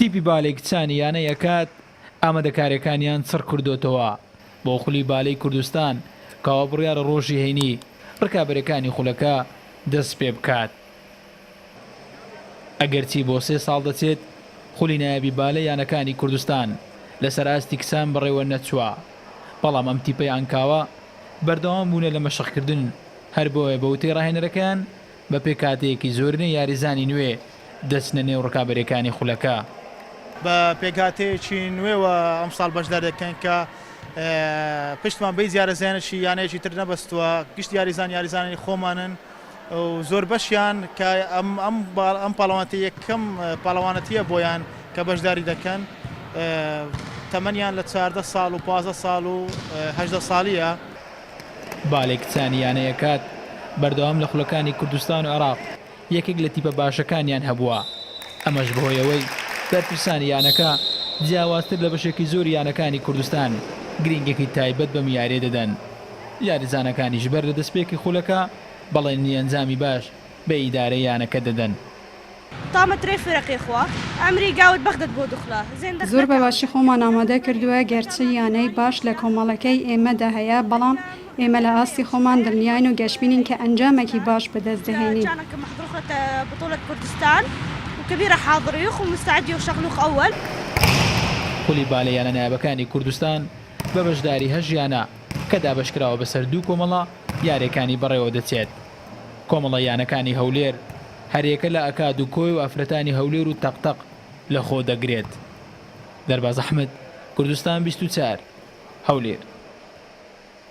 تیپی بالەی کچانی یانەی ئەکاد ئامادەکاریەکانیان چڕکردۆتەوە بۆ خولی بالەی کوردستان کەوا بڕیارە ڕۆژی هەینی ڕکابەرەکانی خولەکە دەست پێبکات ئەگەرچی بۆ سێ ساڵ دەچێت خولی نایابی بالە یانەکانی کوردستان لەسەر ئاستی کچان بەڕێوە نەچوە بەڵام ئەم تیپەی عنکاوە بەردەوام بونە لە مەشقکردن هەر بۆیە بەوتەی ڕاهێنەرەکەیان بە پێکهاتەیەکی زۆرینە یاریزانی نوێ دەچنە نێو رکابەرییەکانی خولەکە. بە پێکهاتەیەکی نوێوە ئەمساڵ بەشدار دەکەین کە پشتمان بە هیچ یارەزانێکی یانەیەکی تر نەبەستووە، گشت یاریزان یاریزانانی خۆمانن و زۆربەشیان کە ئەم پاڵەوانێتییە یەکەم پاڵەوانێتییە بۆیان کە بەشداری دەکەن تەمەنیان لە چاردە ساڵ و پازدە ساڵ و هەژدە ساڵییە. بالێ کچانی یانەی ئەکاد بەردەوام لە خولەکانی کوردستان و عێراق یەکێک لە تیپە باشەکانیان هەبووە، ئەمەش بەهۆی ئەوەی بەرپرسانی یانەکە جیاوازتر لە بەشێکی زۆری یانەکانی کوردستان گرنگێکی تایبەت بەم یارییە دەدەن، یاریزانەکانیش بەر لە دەستپێکی خولەکە بەڵێنی ئەنجامی باش بە ئیدارەی یانەکە دەدەن. تامە ترێ فرەقێ خوا ئەمری گاوت بەغدەت بۆ دخلا زێندە زۆر بە باشی خۆمان ئامادە کردووە، گەرچی یانەی باش لە کۆمەڵەکەی ئێمەدا هەیە، بەڵام ئێمە لە ئاستی خۆمان دڵنیاین و گەشبینین کە ئەنجامێکی باش بەدەست دەهێنین. خولی با لە یانە نایابەکانی کوردستان بە بەشداری هەشت یانە کە دابەشکراوە بەسەر دوو کۆمەڵە یارییەکانی بەڕێوەدەچێت. کۆمەڵە یانەکانی هەولێر هەریەکە لە ئەکاد و کۆی و ئافرەتانی هەولێر و تەق تەق لەخۆدەگرێت دەرباز ئەحمەد، کوردستان بیست و چوار، هەولێر.